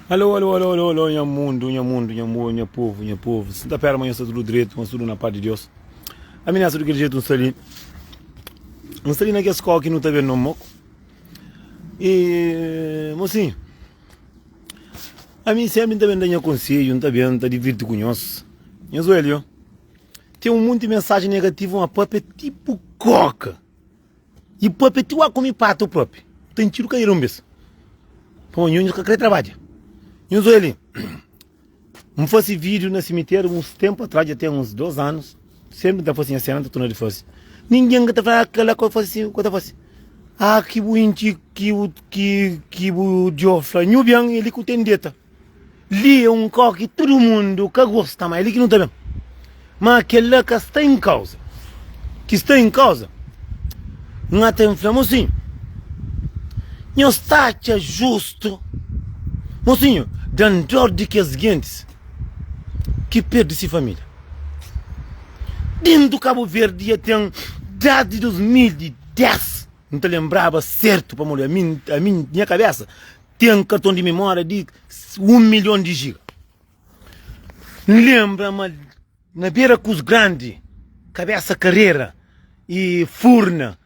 Alô, alô, alô, alô, alô, nha mundu, nha mundu, nha amor, nha povo, nha povo. Se tá perto, mas está tudo direito, mas tudo na paz de Deus. A minha tudo aquele jeito, não está ali. Não está ali naquela escola que não está vendo no moco. E, mocinho, a mim sempre está vendo minha conselho, não está vendo, está divirto com nós. Nha joelho, tem um monte de mensagem negativa, uma papa é tipo coca. I propi ti wa kumi pratu propi u ta intxidu kadeira un bes pamodi nhonhos ka kre trabadja nhos oi li un fasi video na simiteri uns tempu atrás dja ten uns 2 anus senpri n ta fasi nha sena n ta torna di fasi ningin ka ta fla ki kela ki oi fasi si ki oi ta fasi a ki bu intxi ki bu ki ki bu djo fla nhu ben e li ki u ten deta. Li é un kau ki tudu mundu ka gosta, ma é li ki nu ta ben. Má kel-la ka sta en kauza. Ki sta en kauza, N ata infla, Mosinhu, nhos sta atxa justu? Mosinhu, da-m dór di kes gentis ki perde se família. Dentu Kabuverdi dja ten désdi 2010. N ta lenbraba sértu pamodi ami, ami nha kabésa ten karton di memória di un milhon di jiga. N lenbra ma na bera Kuz Grandi, Kabésa Karera i Furna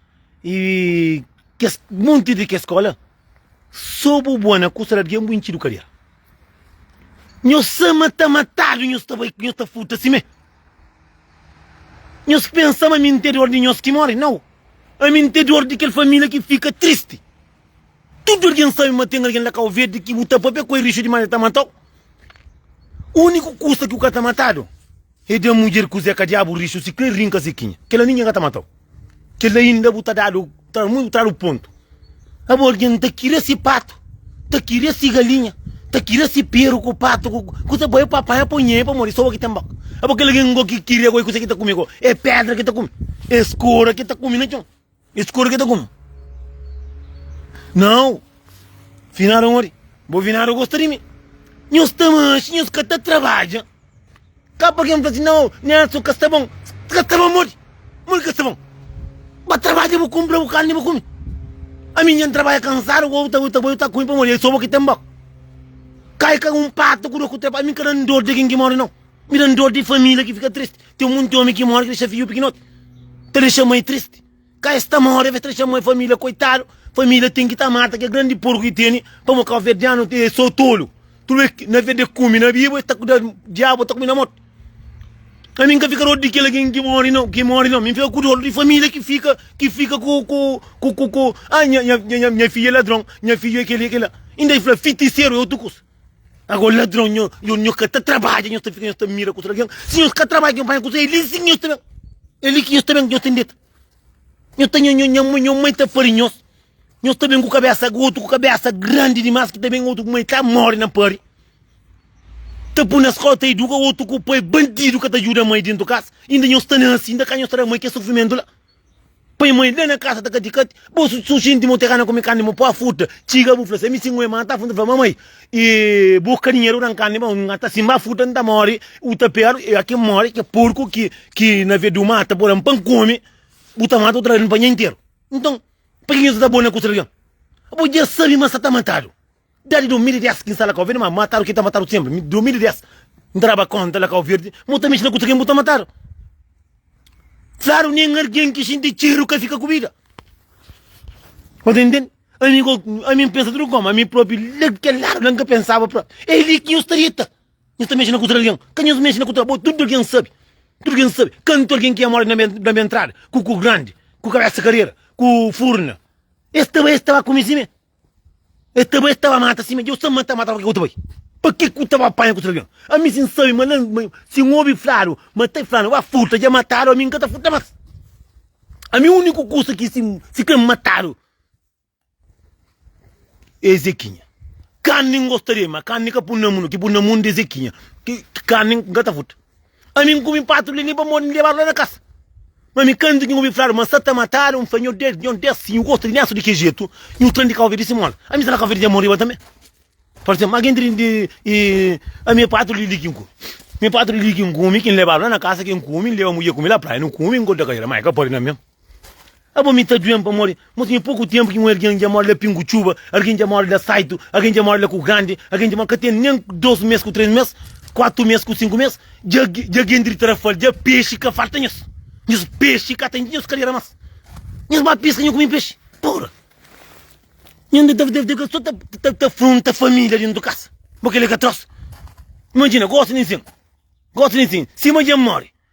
i kes monti di kes skola, sô bu bua na Kusa Largen bu intxidu kadera. Nhos sama ta matadu nhos ta bai nhos ta futa simé nhos pensa ma ami ntê dor di nhos ki mori nau ami ntê dor di kel familia ki fika tristi tudu algen sabe ma ten algen la kau verdi ki bu ta papia ku el rixu dimas el ta matau uniku kusa ki bu ka ta matadu E da mudjer kuzê ka diabu rixu si kre rinka sekinha kela ninguem ka ta matau kela inda bu ta dadu ta mui bu ta dadu pontu abo algen ta kire si patu ta kire si galinha ta kire si peru ku patu ku kuzê bai pa apanha pa nhei pamodi soba ki tem baka abo kela gen go ki kire go e kuzê ki ta kumi go e pedra ki ta kumi e skora ki ta kumi na txon. E skuru ki ta kuma? Nau, finada mori, bo finada gosta di mi. Nhos ta manxa, nhos ka ta trabadja. Ka pa ken fla si nau, Nelson ka sta bon. Ka sta bon modi? Modi ka sta bon? Ba trabadja bu kumpra bu karni bu kumi. Ami nha trabadja kansadu ku ta ta bo ta kumi pamodi e so bo ki ten bok. Kai ka un patu ku do ku traba, ami ka dan dor di kin ki mori nau. Mi dan dor di família ki fika tristi Ten monti omi ki móre ki dexa fidju pikinoti Ta dexa mai tristi Ka es ta móre ves ta dexa mai família koitadu Família ten ki ta mata kel grandi porku ki tene Pamo kabuverdianu e so tolu Tudu e Na verde e kume na bibu es ta kuda Diabu ta kume na mortu Ami N ka fika dor di kel algen ki móre nau ki móre nau Mi N fika ku dor di família ki fika ki fika ku ku ku ku ku Nha nha nha nha nha fidju e ladron nha fidju e kel e kel la Inda e fla fitiseru e otu kusa. Agora ladrão, nho, nho, nho que tá trabalha, nho tá fica, nho tá mira com alguém. Se nho que trabalha, nho vai com ele, sim, nho também. Ele que nho também, nho tem dito. Nho tá, nho, nho, nho, mãe, nho mãe tá farinho. Nho também com cabeça, outro com cabeça grande demais, que também outro com mãe tá morre na pari. Tá por na escola, tá educa, outro com o pai bandido que tá ajuda a mãe dentro de casa. Ainda nho está nascendo, ainda cá nho está a mãe que é sofrimento lá. Poi moi la na kasa ta kati kati bo su xinti mo teka na kumi karni mo pua futa txiga bu fla se mi si ngoi mata fu nta fla mamai e bu ka dinheru dan karni ba nga ta simba futa nta mori u ta peru e aki mori ke purku ki ki na vedu mata bo dan pan komi bu ta mata u ta da dan pa nha interu nton paki ki nhos ta da bo na kusa di algen bo dja sabi ma sa ta matadu. Dadi 2010 ki nsala kauverdi ma matadu ki ta matadu senpri 2010 ntraba konta la kauverdi mo ta mexi na kusa ken bu ta matadu klaru nen argen ki xinti txeru ka fika ku bida mo ta ntende ami ko ami npensa tudu koma ami propi la kel ladu la nka pensaba pro e li ki nhos ta dita nhos ta mexi na kusa di algen ka nhos mexi na kusa bo tudu algen sabi tudu algen sabi kantu algen ki amora na be ntrada ku ku grandi ku kabesa karera ku furna es ta ba es ta ba ku mi si me E ta bai, e ta ba mata si, ma Deus ta mata, mata, pa ke ku ta bai? Pa ke ku ta ba panha ku trabion? Ami si N sabe ma la, ma si N obi fladu ma ta fladu, ba furta, ja matadu, ami N ka ta furta mas. Ami uniku kusa ki si, si krê-m matadu e Ezekinha. Karni N gosta di el, ma karni ka pun na mun, ki pun na mun di Ezekinha, ki karni N ka ta furta. Ami N kume patu li li pa modi N lebadu la na kasa Ma mi kantu ki N obi fladu ma sa ta matadu N fla nho ded nho des si nhu gosta di nesu di ki jetu nhu tra di kau verde simola ami sta na kau verde dja moriba tanbe Por exemplo algen tri di i ami e patu li li ki N kume mi e patu li li ki N kume ki N lebadu la na kasa ki N kume N leba mudje kume la praia nu kume N konta ka ela ma e ka pode na mem. Abo mi ta duen pamodi mo tinha poku tenpu ki un algen dja mori la pingu txuba, algen dja mori la saitu, algen dja mori la ku grandi, algen dja mori ka ten nen dos mes ku tres mes, kuatu mes ku sinku mes, dja dja gen dri tra fal dja pexi ka falta nhos, nhos pexi ka ta intxi nhos kaleira mas, nhos ba piska nho ku mi pexi pura. Nho nda ta ta so ta ta ta frunta familia dentu kasa, bo kela ka tros, imajina gosi nen sen, gosi nen sen, sima dja mori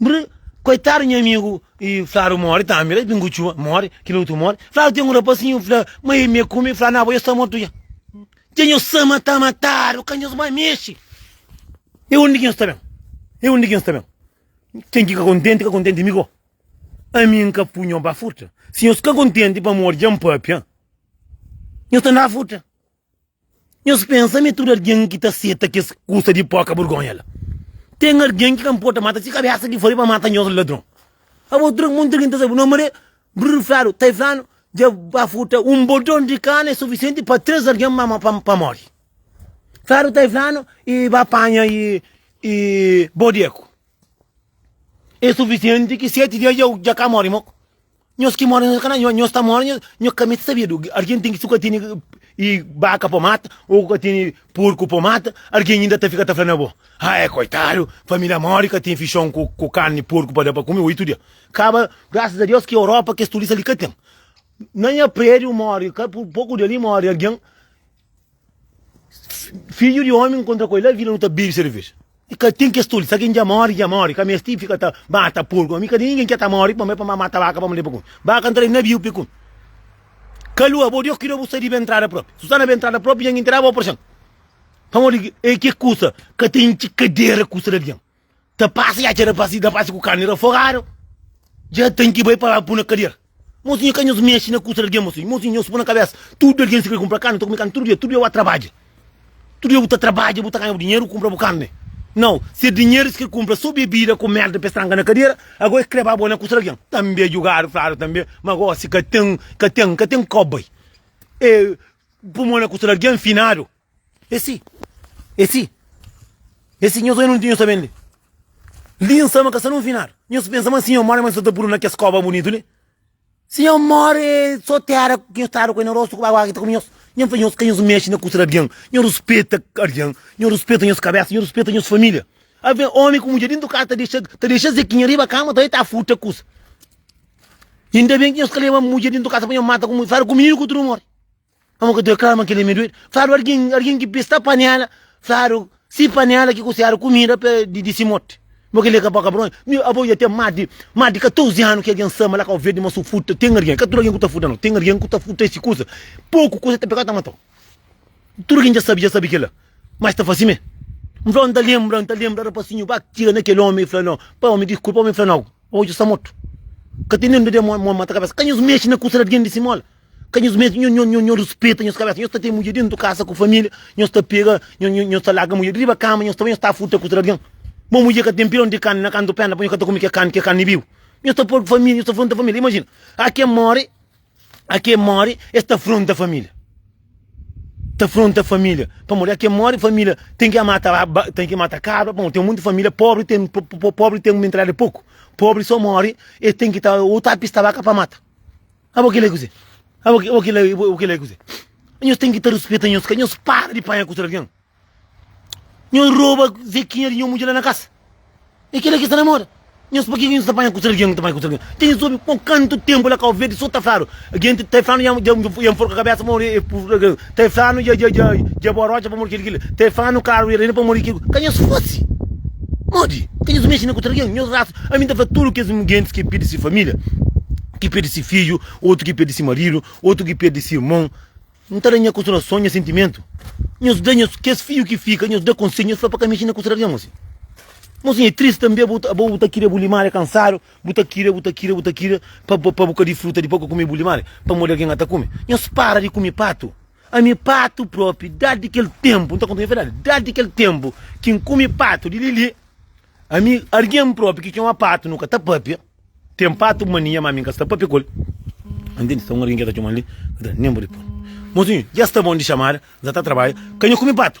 Bri, Koitadu nha amigu y Fladu mori tambi la, Pingu Txuba mori, kil otu mori. Fladu ten un rapasinhu, fla, ma e me kume, fla, na bo, e sta mortu dja. Dja nhos sa ma ta matadu, ka nhos mai mexe. E undi ki nhos ta ben? E undi ki nhos ta ben? Ken ki ka kontenti, ka kontenti mi ko. Ami N ka pui nho ba furta. Si nhos ka kontenti pamodi dja N papia, nhos ta N da furta. Nhos pensa ma é tudu algen ki ta seta kes kusa di poka burgonha la? Ten algen ki ka nporta mata se kabésa ki fla-l pa mata nhos ladron. Abo tra monti algen ta sabe no Maré, Brul fladu, Tay fladu dja ba furta un bodon di kanu é sufisienti pa três algen pa móre. Fladu, Tay fladu i ba panha i bodeku é sufisienti ki seti di el dja ka móre. Nhos ki mora nhos ka na nhos nhos ta mora nhos ka mete sabedu argen tem su ka teni e baka pa mata ou ka teni porco pa mata argen ainda ta fica ta fala na bo ah é coitado família mora e ka tem fichon ku ku carne porco pa da pa kume oito dia kaba graças a Deus ki Europa kes turista li ka tem na nha prédio mora ka pouco dia li mora argen Fidju di omi nkontra ku el la vila nu ta bebe serveja i ka ten kes toli sa ken dja mori dja mori ka mesti fika ta mata porku ami ka di ningen ke ta mori pamo e pa ma mata baka pa ma leba kun baka ntra di naviu pe kun kalua bo dios kida bo sa riba entrada propi su sta na be entrada propi nja ngi nterabo o proxon pamodi e ke kusa ka ta intxi kadera kusa di algen. ta pasa ya txera pasi da pasi ku kani ra forado ja ten ki bai pa la pu na kadier mosinho ka nhos mexi na kusa di algen mosinho mosinho nhos po na kabesa tudu algen si kre kumpra kani ta kume kani tudu dia tudu dia bu a trabadja tudu dia bu ta trabadja bu ta ganha bu dinheru kumpra bu kani nau si e dinheru si kre kumpra so bebida ku merda pa e stranga na kadiera ago e kre ba bo na kusa di algen tambe jugadu fladu tambe ma ago si ka ten ka ten ka ten kobai e pumon na kusa di algen finadu. É si, é si, é si, nhos oi nun ti nhos ta ben li. Li N sta ma ka sta nun final. Nhos pensa ma si nhos more ma nhos ta ta puru na kes koba bunitu li? Si nhos more so tera ki nhos tara ku el na rostu ku agu ki ta kume nhos. Nhos fla nhos ka nhos mexe na kusa di algin. Nhos ruspeta algin, nhos ruspeta nhos kabesa, nhos ruspeta nhos familia. Alvê omi ku mudjer dintu kasa ta dexa ta dexa zekinha riba kama ta bai ta furta kusa. Inda ben ki nhos ka leba mudjer dintu kasa pa nhos mata ku mudjer, fada ku mininu ku tudu more. Amo ka teu kama kile mi doido. Fladu argin argin ki pista panela, fladu si panela ki kusiadu kumida pe di di si moti. Bo kile ka pa kabron. Mi abo ya ten mas di mas di 14 anu ki argin sama la kau verde ma su futa ten argin. Ka tudu argin ku ta futa no. Ten argin ku ta futa esi kusa. Poku kusa ta pegau ta matau. Tudu kin ja sabi ja sabi kila. Mas ta fasi me. N flau n ta lembra n ta lembra rapasinhu ba tira na kel omi fla no pa omi diskulpa omi fla no abo dja sa mortu. Ka ten nen dode mo mata kabesa. Ka nhos mexi na kusa di argin di si mola. Ka nhos meste nho nho nho rispeta nhos kabesa. Nhos ta ten mudjer dentu kasa ku família, nhos ta pega nho nho nhos ta larga mudjer riba kama, nhos ta bai nhos ta furta kusa di algin. Bo mudjer ka ten pironi di karni na kantu pena pa nhos ka ta kume ke karni, ke karni bibu. Nhos ta por família, nhos ta fronta família. Imajina, a ke more, a ke more es ta fronta família. Ta fronta família pamodi a ke more família ten ke mata ba ba ten ke mata kabra pamodi ten monti família pobri ten po po pobri ten mentalidadi di poku. Pobri so more e ten ki ta o ta pista baka pa mata. Abo kila é kuzê? Abo ki, abo kila, abo kila é kuzê? Nhos tem ki ta respeta nhos ka, nhos para di panha kutu di algen. Nhos roba zekinha di nho mudjer la na kasa. É kila ki sta na moda. Nhos pakê ki nhos ta panha kutu di algen, ta panha kutu di algen? Dja nhos obi bon kantu tempu la Kau Verdi so ta fladu, gen ta fladu nham, nham, nham forka kabesa, mon, é purdu di algen. Stefano dja dja dja dja bora otxa pamodi kel kila Stefano karu ira ira pamodi kel ka nhos fase modi ka nhos mexe na ku tralgen nhos rasa ami nta fla tudu kes gentis ki pirdi si familia ki pirdi si fidju otu ki pirdi si maridu otu ki pirdi si irmon nta da nha konsolason nha sentimentu nhos da nhos kes fidju ki fika nhos da konselhu nhos fla pa ka mexe na ku tralgen mosi mosi nha e tristi tanbe abo abo ta kiri abo limari kansadu Bu ta kira, bu ta kira, bu ta kira pa pa bu ka disfruta dipô ka kume bu limari pamodi algen la ta kume. Nhos para di kume patu. Ami patu propi, dadi kel tenpu, N ta konta nha fedadi, dadi kel tenpu ki N kume patu di li-li, ami algen propi ki txoma patu nu ka ta papia. Ten patu mania ma ami N ka sta papia ku el. Ntende? Sta un algen ki el ta txoma li, N ka ta nen bo di pô-l. Mosinhu, dja sta bon di txamada, N sa ta trabadja, ka nha kume patu.